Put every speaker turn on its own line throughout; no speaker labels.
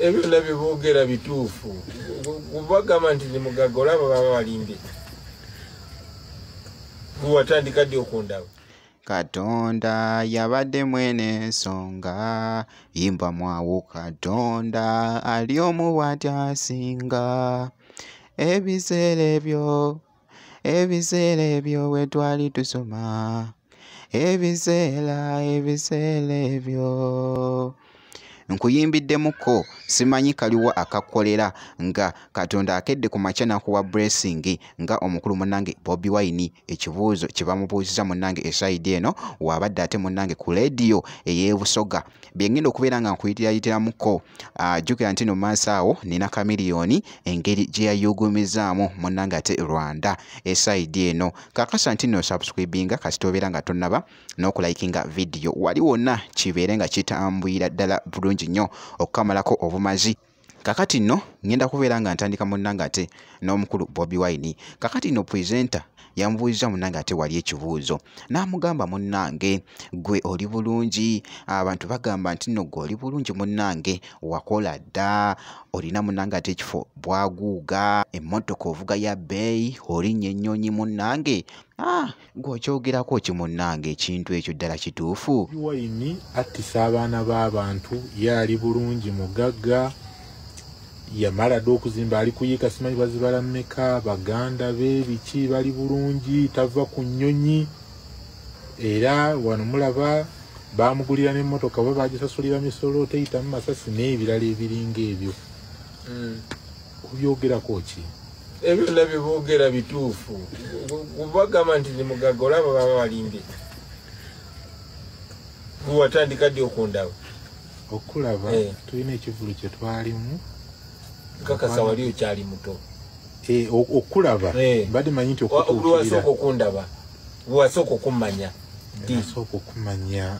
ebyo byonna byeboogera bituufu kubagamba nti ni mugagga olaba baba balimbye gwewatandika ddi okundaba katonda
yabadde mwene ensonga yimba mwawo katonda ali omu bwatyasinga ebiseera ebyo ebiseera ebyo bwe twali tusoma ebiseera ebiseera ebyo nkuyimbiddemuko simanyi kaliwa akakolera nga katonda akedde ku makya nakuwa bressing nga omukulu munange bobi wine ekibuuzo kye bamubuuziza munange esayidi eno waabadde ate munange ku leediyo ey'ebusoga byengenda okubeera nga nkuyitirayitiramuko ah, jjukira nti no maaso awo nina kamiliyoni engeri gye yayugumizaamu munange ate rwanda esaidi eno kakasa nti no subscribinga kasita obeera nga tonaba n'okulayikinga vidiyo wali wonna kibeere nga kitambwira ddala bulungi nnyo okukamalako obumazi kakati nno ngenda kubeera nga ntandika munnanga ate n'omukulu bobi wine kakati nno presenta yamubuuziza munnange ate wali ekibuuzo n'amugamba munnange gwe oli bulungi abantu bagamba nti nno gwe oli bulungi munnange wakola dda olina munnange ate ekifo bwaguuga emmotoka ovuga ya bbeeyi olinnya ennyonyi munnange ah! gwe okyogerako ki munnange ekintu ekyo ddala kituufu wayini
attisa abaana b'abantu ye ali bulungi mugagga yamala dde okuzimba ali kuyiika simanyi bazibala mmeka baganda be biki bali bulungi tava ku nnyonyi era wano mulaba bamugulira n'emmotoka oba bagisasulira misolo teyitamu masasi n'ebirala ebiringa ebyo hmm. obyogerako ki ebyo byonna
byebogera bituufu kubagamba nti ni mugaga olaba baba balimbye watandika ddi okundaba okulaba
eh. tulina ekivulu kyetwalimu kakasa
wali okyali muto eh,
okulaba eh. badi manyi nti okutuukirira okundaba
wasooka okummanya nasooka
okumanya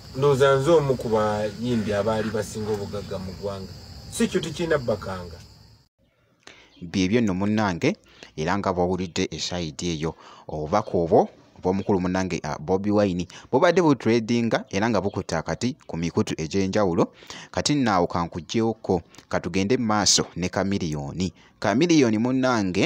Ndoza nze omu ku bayimbi abaali basinga obugagga mu ggwanga si kyo tekirina bakanga
byebyo nno munnange era nga bwawulidde esayidi eyo obubaka obwo obw'omukulu munnange ah, bobi wine bubadde butradinga era nga bukutte akati ku mikutu egy'enjawulo kati nnaawo kankuggyewokko katugende mu maaso ne kamiliyoni kamiliyoni munnange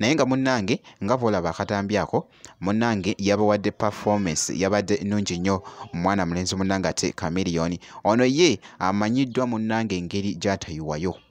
naye nga munnange nga bwolaba akatambi ako munnange yabawadde performance yabadde nnungi nnyo omwana mulenzi munnange ate kamiliyoni ono ye amanyiddwa munnange engeri gyatayiwayo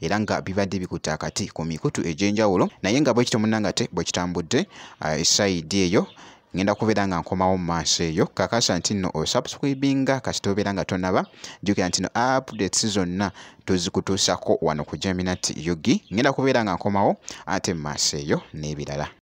era nga bibadde bikutte akati ku mikutu egy'enjawulo naye nga bwekityo munnanga te bwekitambudde uh, esaidi eyo ngenda kubeera nga nkomawo mu maaso eyo kakasa nti nno osubscribinga kasita obeera nga tonaba jjukira nti no updates zonna tuzikutuusako wano ku jaminat yugi ngenda kubeera nga nkomawo ate mu maaso eyo n'ebirala